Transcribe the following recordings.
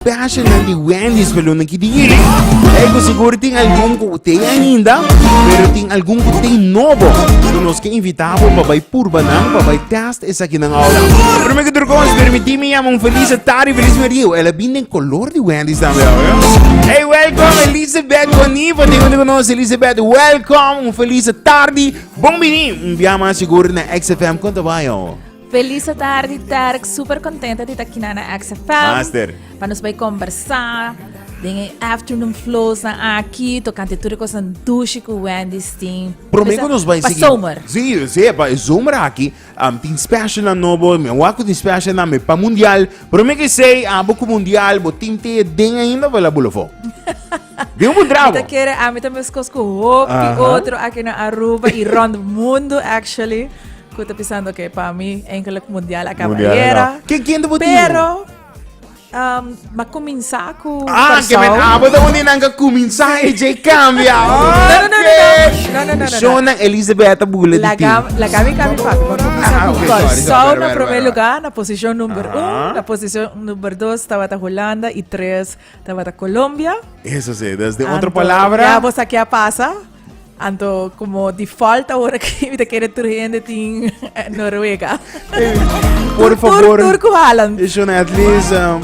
Passional di Wendy's pa lunen ki di hiri. E ku sigur tin algun ku te ainda, pero tin algun ku te nobo. So nos ke invita bo pa bai purba nan, pa bai test esa ki nan ahora. Primer ki tur kos, permiti mi yama un feliz tari, feliz merio. Ela bin den color di Wendy's tambe ahora. Hey, welcome Elizabeth Boniva. Tengo te conoce Elizabeth. Welcome, un feliz tardi. Bon bini. Biama sigur na XFM. Konta bayo. Felis atardi Derk, super contenta di ta kina na XFM. Master. Pa nos bay conversa den e afternoon flows na aki, tocante tur e cosan dushi cu Wendy Steen. Promego nos bay Pa zomer. Si, si, pa e zomer aki, um, tin special na nobo, me waku tin special na me pa mundial. Promego say, abo cu mundial, bo tin te den ainda of la bulofo. Digo un drabo. Ita kere, a mi ta mescos cu hopi uh -huh. otro aki na Aruba y rond mundo actually. Cu ta pisando que pa mi enkele mundial a caba Mundial ayer. no. Ken- ken ta bo tin? Pero um, ma cuminsa cu Ah, que Curaçao. men abo ta undi nan ka kuminsa e je kambia. No, no, no, no, no. No, no, no, no, no. Shona Elisabetta Bule La di gam, la gami cami papi. Ma comienza Ah, ah, con ok, sorry, sorry, Curaçao sorry, na sorry, primer sorry. lugar, na posición número Ajá. uno, na posición número dos, tabata Holanda y tres, tabata Colombia. Eso sí, desde Anto, otra palabra. Ya vos aquí a pasa. Anto como di falta ahora que me quiere trayendo tin eh, Noruega. Hey, por favor. Tur, tur Holland. Is on at least um,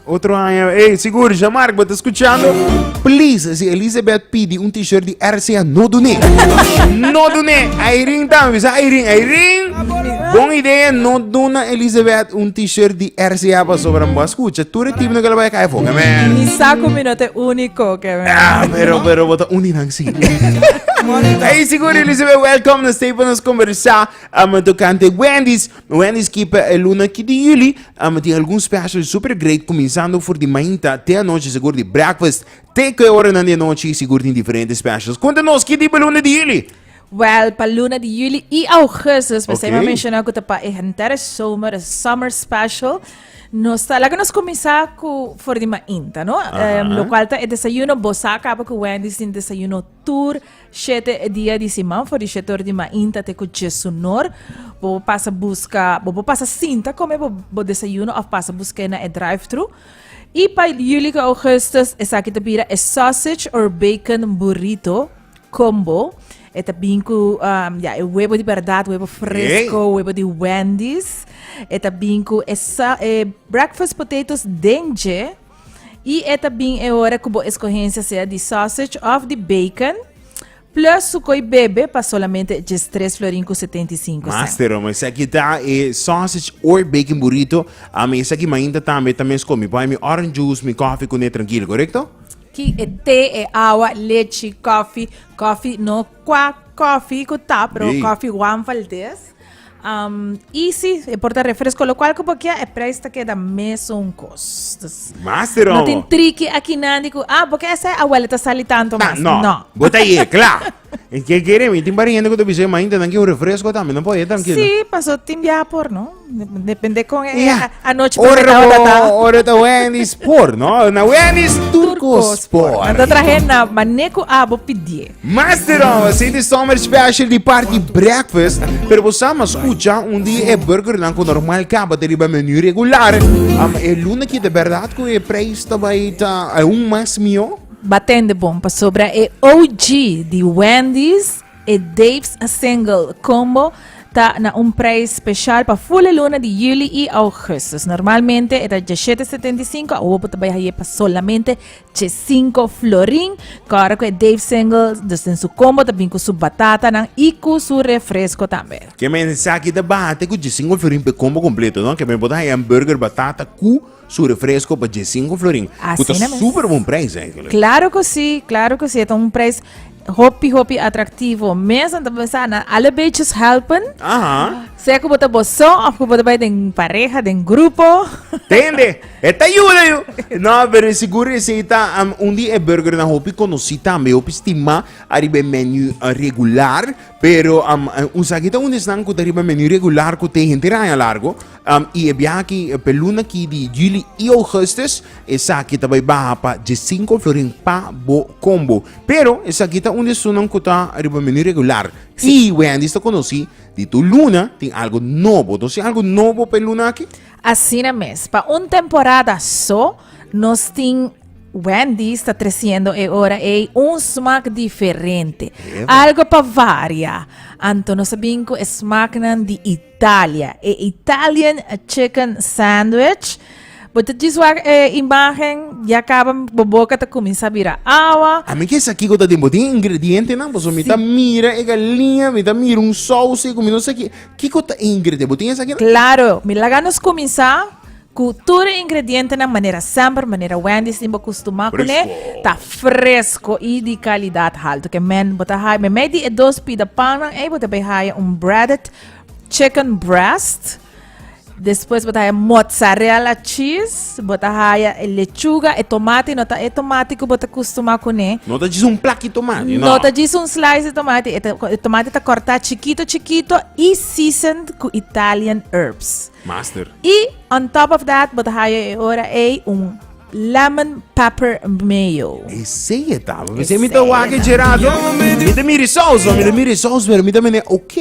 otro año. Hey, seguro, ya Mark, but escuchando. Please, si Elizabeth pidi un t-shirt di RCA, no dune. no dune. Irene también, bisa Irene, Irene. Bon idea, no duna Elizabeth un t-shirt di RCA para sobra. Escucha, tú eres tipo que lo va a caer fuego, man. Mi saco mi no te único, que Ah, pero, pero, bota uni nan si. Hey, seguro Elizabeth, welcome na Stay para nos conversar. Um, tocante Wendy's. Wendy's keep eh, el luna ki di juli. Um, tem algum special super great, começando for di mainta até a noite, seguro di breakfast. Até que hora na de noite, seguro tem diferentes specials. Conta nos, que tipo luna di juli? Wel, pa luna di juli i augustus, Ok. okay. mencionar cu pa e henter zomer, e summer special, nos ta, laga nos comenzar cu for di mainta, no? Aha. Em, lo cual ta e desayuno, bosa acaba cu Wendy's tin desayuno tur shete e dia di siman, for di shete or di mainta te cu djesunor, bobo pasa busca, bobo pasa sinta come bo, bo desayuno of pasa buscae na e drive-thru. I pa juli cu augustus esaki ta bira e sausage or bacon burrito, Combo. E ta bin cu um, ya, e huevo di verdad, huevo fresco, Yay. huevo di Wendy's. E ta bin cu e, sa- e breakfast potatoes denje. Y e ta bin e hora cu bo escogencia sea di sausage of di bacon. Plus su coi bebe pa solamente e djes tres florin cu setenta y cinco cent. Master, ma esaki ta e sausage or bacon burrito. A mi esaki mainta tambe ta mes comi. Poi mi orange juice, mi coffee cune tranquilo, correcto? Ki e te, e awa, lechi, kòfi, kòfi no kwa kòfi ku ta, pero Ei. kòfi Juan Valdez. Um, y si e por ta refresco, lo cual que por kia e prijs ta queda mesun kos. Dus, Master no tin homo. triki aki nandi ku ah, porque ese abuela ta sali tanto Ta, mas. no. No. Bota ye, kla. E ke kere mi tin pariente ku ta bisa ma inta nan ki un refresco tambe nan po e tranquilo. Si, paso tin bia por no. Depende kon e yeah. anoche por ta ta. Ora ta Wendy's por no. Na Wendy's Turco Sport. Na ta trahe na maneku abo pidie. Master of City Summer Special di Party Breakfast. Pero bo sama escucha un di e burger nan ku normal kaba te riba menu regular. Am e luna ki de verdad ku e prijs ta bai ta un mas mio. Ba tende bon pasobra e OG di Wendy's, e Dave's Single Combo, ta na un prijs special pa full e luna di juli y augustus. Normalmente e ta djashete setenta y cinco, awo bo ta bay haye pa solamente djesinco florin. Kòrda ku e Dave's Single, dus den su combo ta bin ku su batatanan y ku su refresco tambe. Kèmen esaki ta baha te ku djesinco florin p'e combo completo, no? Kèmen bo ta haye hamburger, batata ku. Su refresco pa dje sinku florin. Ku ta super bon prijs eigenlijk. Klaro ku si, klaro ku si. E ta un prijs hopi hopi atraktivo. Mesa ta besa na alle beetjes helpen. Aha. Sea ku bo ta boso of ku bo ta bai den pareha, den grupo. Tende, e ta yuda yu. No, pero e sigur reseta um, un di e burger na hopi konosí tambe, hopi stima ariba e menu uh, regular. Pero um, un sakita un esnan ku ta riba menu regular ku te hente raña largo. Um, y e biahaki pe luna ki di juli y augustus, esaki ta bai baha pa dje sinko florin pa bo combo. Pero esaki ta un di esunnan cu ta riba menu regular. Y Wendy's ta conoci di tur luna tin algo nobo. Nos tin algo nobo pe luna aki? Asina mes. Pa un temporada so, nos tin Wendy's ta treciendo e ora ey un smaak diferente. Ever. Algo pa varia. Anto nos a bin cu e smaaknan di Italia, e Italian chicken sandwich. Bo ta djis wak e imagen, ya kaba bo boka ta kuminsá bira awa. A mi ke sa kiko ta den, bo tin e ingredientenan? Pasobra mi ta mira e galinha, mi ta mira un sous ei ku mi no sa ki, kiko ta e ingrediente? Bo tin esaki nan? Klaro, mi laga nos kuminsá Ku tur e ingredientenan manera semper, manera Wendy's tin bo kustumá kuné, ta fresko i di kalidat haltu. Ke men, bo ta haya, meimei di e dos pida pannan ei, bo ta bai haya un breaded chicken breast, despues bo ta haya mozzarella cheese, bo ta haya e lechuga, e tomati no ta e tomati ku bo ta kustumá kuné, No ta djis un plaki tomati, no. no ta djis un slice di tomati, e ta, e tomati ta kòrtá chikito chikito i seasoned ku Italian herbs. Master. Y on top of that bo ta haya e ora ey un lemon pepper mayo. Esey e taba. P'esey mi ta wak e Gerardo. Mi ta mira e saus, mi ta mira e saus pero mi ta mene ok,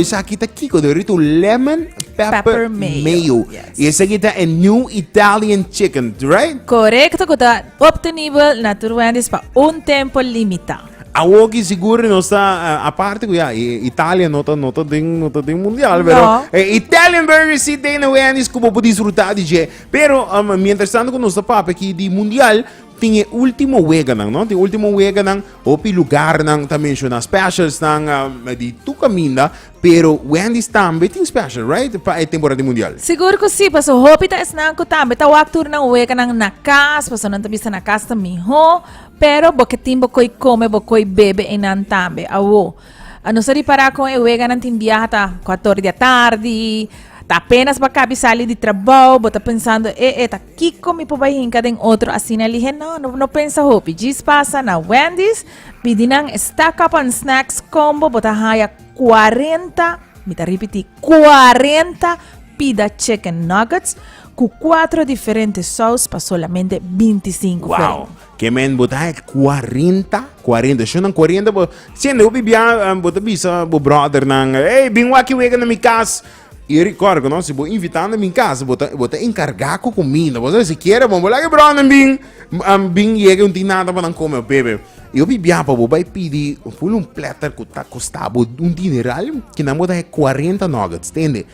esaki ta kiko? Ta orit un lemon pepper Pepper mayo, mayo. yes. Y esaki ta e new Italian chicken, right? Correcto cu ta obtenibel na tur Wendy's pa un tempo limita. A woki sigur no sta uh, aparte ku ya i- Italia no ta no ta den no ta den mundial, No. pero eh, Italian Burger si den na Wendy's ku bo por disfruta di dje. Pero um, mientras tanto ku nos ta papia ki di mundial tin e ultimo weganan, no? Tin ultimo weganan, hopi lugarnan ta menciona specialsnan um, di tur kaminda, pero Wendy's tambe tin special, right? Pa e temporada di mundial. Sigur ku si, paso hopi ta esnan ku tambe ta wak tur nan weganan na kas, paso nan ta bisa na kas ta mihó. Pero bo ke tin bo koi kome bo koi bebe einan tambe awo a nos a ripara kon e weganan tin biaha ta kuator di atardi ta apenas bo a kabi sali di trabou bo ta pensando e e ta kiko mi por bai hinka den otro asina lihe no no no pensa hopi djis pasa na Wendys pidi nan e stack up and snacks combo bo ta haya cuarenta mi ta ripiti cuarenta pida chicken nuggets Cu cuatro diferente saus pa solamente binti i sinku florin. Ke men bo ta het cuarenta, cuarenta, sho nan cuarenta bo siente hopi bia em, bo ta bisa bo brother nan, hey, bin waki wega na mi cas. Y record ku no, si bo invita na mi cas, bo ta bo ta encarga ku comida. Bo sa si kiere bon, bo laga e brothernan bin em, bin yega un tin nada pa nan come o bebe. Y hopi bia pa bo bai pidi full un platter ku ta costa bo un dineral, kinan bo ta het cuarenta nuggets, tende.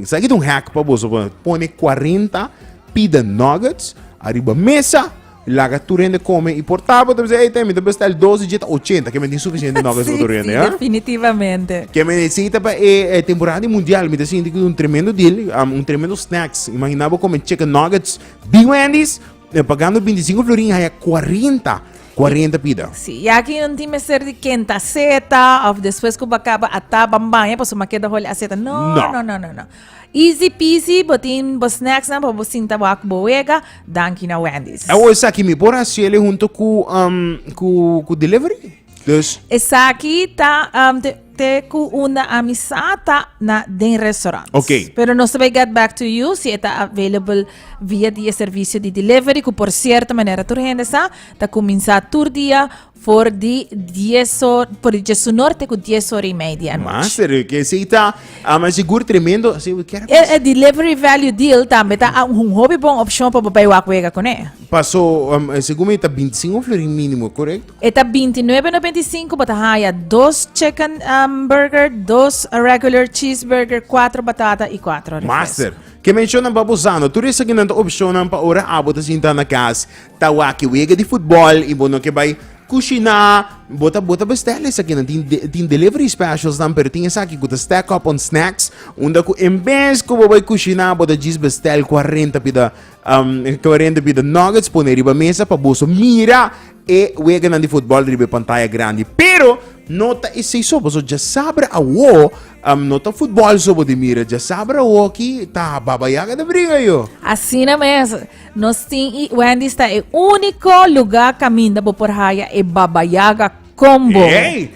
Sa kit un hack pa boso pa pone 40 pita nuggets ariba mesa laga tur hende come y por tapa te hey temi te bestel 12 jeta 80 que me tin suficiente nuggets sí, tur hende sí, ¿eh? definitivamente que me necesita pa eh, eh, temporada mundial me te siente que un tremendo deal um, un tremendo snacks imaginaba come chicken nuggets big wendy's E pagando bintisinko florin i haya kuarenta, kuarenta pida. Sí, i aki no tin mester di ken ta seta òf despues ku bo kaba a ta ban baña pasobra bo a keda holi a seta. No, no, no, no, no. Easy peasy, bo tin bo snacks nan pa bo sinta bo aki bo wega. Danki na Wendy's. Awor esaki mi por hasiel e hunto ku, um, ku, ku delivery? Dus. Esaki ta um, te, te ku una amisat ta na den restaurant. Ok. Pero nos tabay get back to you si eta available via di e servicio di delivery ku por cierto manera tur hende sa ta kuminsá tur dia for di 10 hor por di 10 norte ku 10 hora y media anoche. Master, eh, que sí está, ah, mas seguro tremendo. Sí, we quiero E, e delivery value deal tambe ta a- un hobby bon option pa babay wak wega kuné. Pasó, um, según me está 25 florin mínimo, correcto? E ta binti nuebe nobenta i sinku, bo ta haya dos chicken um, burger, dos regular cheeseburger, kuater batata i kuater refresco. Master, ke mencionnan pa bosano, tur esaki nan ta opcionnan pa ora abo ta sinta na cas ta wak e wega di futbol i bo no ke bai cushina, bo ta bo ta bestel esakinan. Tin de- tin delivery specials nan, pero tin esaki cu ta stack up on snacks, unda cu en bes cu bo bai cushina bo ta djis bestel cuarenta pida Um, Clauren de Bida Nuggets pone riba mesa pa boso mira e weganan di futbol riba pantaya grandi. Pero, no ta isei so, boso ja sabra a wo, um, no ta futbol so de mira, ja sabra wo ki ta baba yaga de briga yo. Asina mes, nos tin i Wendy sta e unico lugar caminda bo por haya e baba yaga combo. Hey!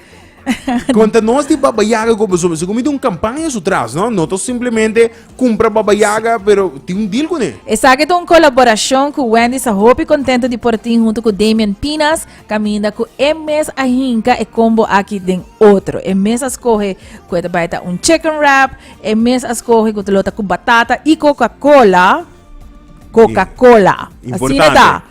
Conta nos di Baba Yaga go boso boso comida un campaña su tras, no? No to simplemente compra Baba Yaga, pero ti un deal con e. Esaki ta un colaboracion cu Wendy sa hopi contento di por tin hunto cu Damian Pinas, caminda cu e mes a hinca e combo aki den otro. E mes a scoge cu e ta bay ta un chicken wrap, e mes a scoge cu ta lo ta cu batata y Coca-Cola. Coca-Cola. Asina ta.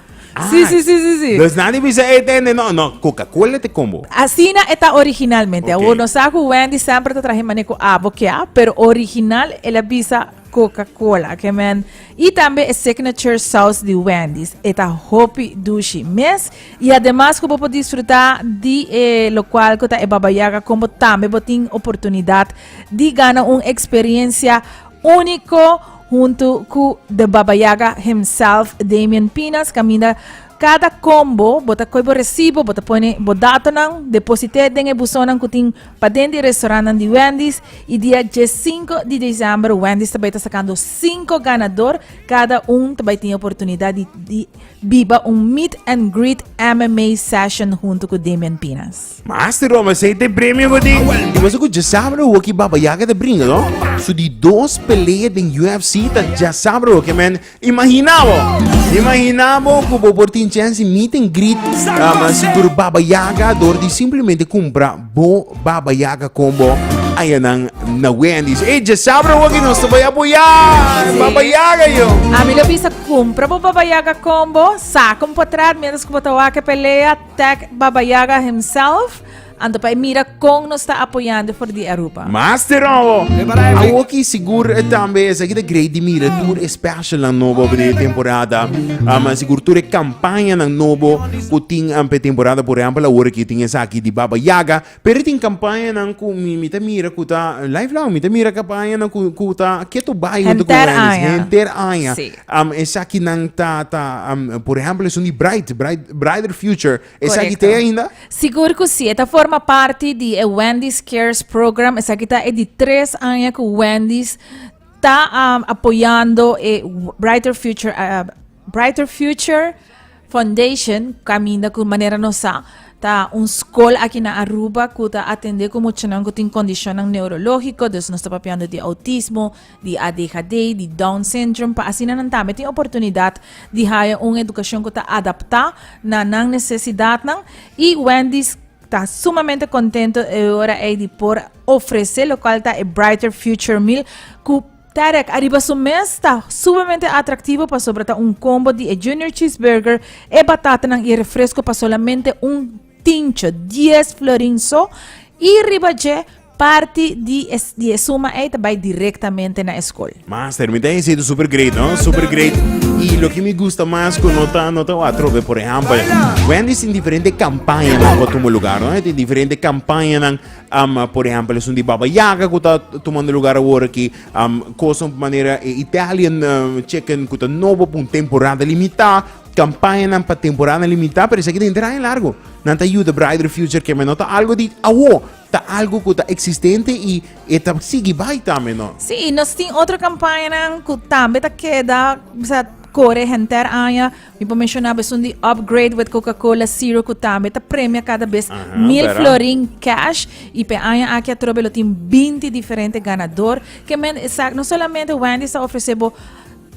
Sí, sí, sí, sí, sí. Dus nadi bisa e tende, no, no, Coca-Cola te combo. Asina e ta originalmente. Okay. Awor no sa ku Wendy sempre ta trahe maneku abo kia, pero original el a bisa Coca-Cola, que men. Y también el signature sauce de Wendy's. Eta hopi dushi mes. Y además que puedo disfrutar de eh, lo cual que el Baba Yaga como también botín oportunidad de ganar una experiencia único Huntu ku The Baba Yaga himself, Damian Pinas, kaminda kada kombo bo ta koe bo resibo, bo ta pone bo datonan, deposit'é den e busonnan ku tin paden di restaurantnan di Wendy's i dia dje sinku di desèmber Wendy's ta bai ta sakando sinku ganador, kada un ta bai tin e oportunidat di biba un meet and greet MMA session huntu ku Damian Pinas. Master Roma sei te premio go den. Y boso cu ya sabra ho ki Baba Yaga ta bringa, no? So di dos pelea den UFC ta ya sabra ho ke men. Imagina bo, imagina bo cu bo por tin chance meet and greet um, sigur Baba Yaga door di simplemente cumpra bo Baba Yaga combo ayanan na Wendy's. Ey, ya sabra ho ki nos ta bay apoya Sí. Baba Yaga, yo. A mi lo bisa compra bo Baba Yaga combo, saca un potrat mientras que bo ta wak e pelea, Tag Baba Yaga himself. Anto pa e mira con nos ta apoyando for di Aruba. Master Robo! Awoki sigur e tambe esaki ta grei di mira tur e specialnan nobo for di e temporada. Um, sigur tur e campañanan nobo cu tin um p'e temporada. Por ehempel, aworaki tin esaki di Baba Yaga Pero tin campañanan cu mi, mi ta mira cu ta lifelong. Mi ta mira campañanan cu, cu ta ketu bai junto cu Henter Wendy's. aña. Henter aña. Sí. Um, esaki nan ta, ta um, por ejemplo, esun di Bright, Bright, Brighter Future. Esaki Correcto. te ainda? Sigur cu si, e ta forma parti di e Wendy's Cares Program. Esaki ta e di tres aña cu Wendy's ta am, apoyando e Brighter Future ah, Brighter Future Foundation caminda cu manera nos sa ta un school aki na Aruba cu ta atende cu muchanan cu tin condicionnan neurologico, dus nos ta papiando di autismo, di ADHD, di Down syndrome, pa asina nan tambe tin oportunidad di haya un educacion cu ta adapta na nan necesidadnan y Wendy's ta sumamente contento e ora ey di por ofrece locual ta e Brighter Future Meal cu Tarek, ariba su mes, ta sumemente atraktivo pasobra ta un kombo di e Junior Cheeseburger, e batatanan i e refresko pa solamente un tincho, dies florin so, i riba dje, parti di e suma ei ta bai direktamente na e skol. Master, mi ta hesita super great no, super great. I loke mi gusta mas ku no ta no ta watrope, por ehèmpel Wendy's tin diferente kampañanan ku tumo lugar no, e tin diferente kampañanan. Um, por ehempel, esun di Baba Yaga cu ta tomando lugar awor aki. Um, cosa un manera e Italian um, chicken cu ta nobo pa un temporada limita. Campaña nan pa temporada limita, pero esaki den terreno largo. Nan ta ayuda Brighter Future que no ta algo di awo, ta algo cu ta existente y e ta sigui bai tambe, no? Sí, y nos tin otro campañanan cu tambe ta keda, o sea, core henter aña. Mi por mencioná besun di upgrade wet Coca-Cola Zero cu tambe ta premia cada bes mil bera. florin cash y pe aña aki atrobe lo tin binti diferente ganador que men esak no solamente Wendy's ta ofrece bo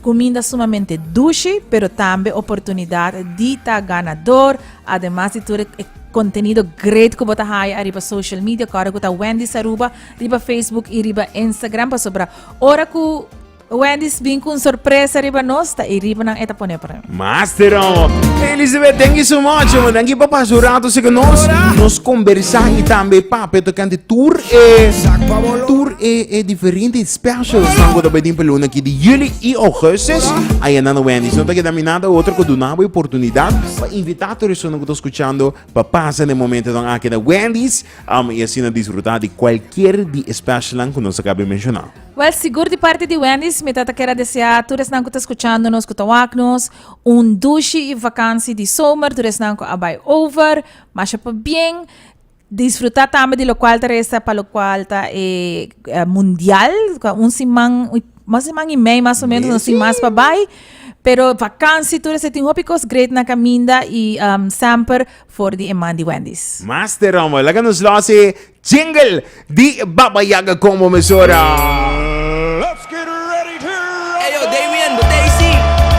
cuminda sumamente dushi pero tambe oportunidad di ta ganador ademas di tur e contenido great cu bo ta haya ariba social media cu ora cu ta Wendy's Aruba riba Facebook y riba Instagram pasobra ora cu. Wendy's bin cu un sorpresa riba nos, ta ey riba nan e ta pone pa nan. Master awo. Elizabeth, thank you so much, man. Dankie pa pasa un rato así con nos. Nos conversa y tambe papia tocante tur e, tur e, e diferente specials nan cu ta bay den pa luna aquí di juli y augustus. Aya nan na Wendy's. No ta keda mi nada otro cu duna bo e oportunidad pa invita tur esun cu ta scuchando pa pasa den momentonan aki na Wendy's, um, y asina disfruta di cualkier di e specialnan cu nos a caba di menciona. Well, sigur di parti di Wendys mi ta ta kere desea tur esnan ku ta skuchando nos ku ta wak nos un dushi i vakansi di somer tur esnan ku a bai over. Masha pabien disfruta tambe di lokual ta resta pa lokual ta e mundial un siman un siman i mei mas o menos nos tin mas pa bai pero vakansi tur ese tin hopi kos great na kaminda i semper for di e man di Wendys. Master Rommel, laga nos lòs e Jingle di Baba Yaga con bo mesora. Ey yo, Damian, bo Daisy.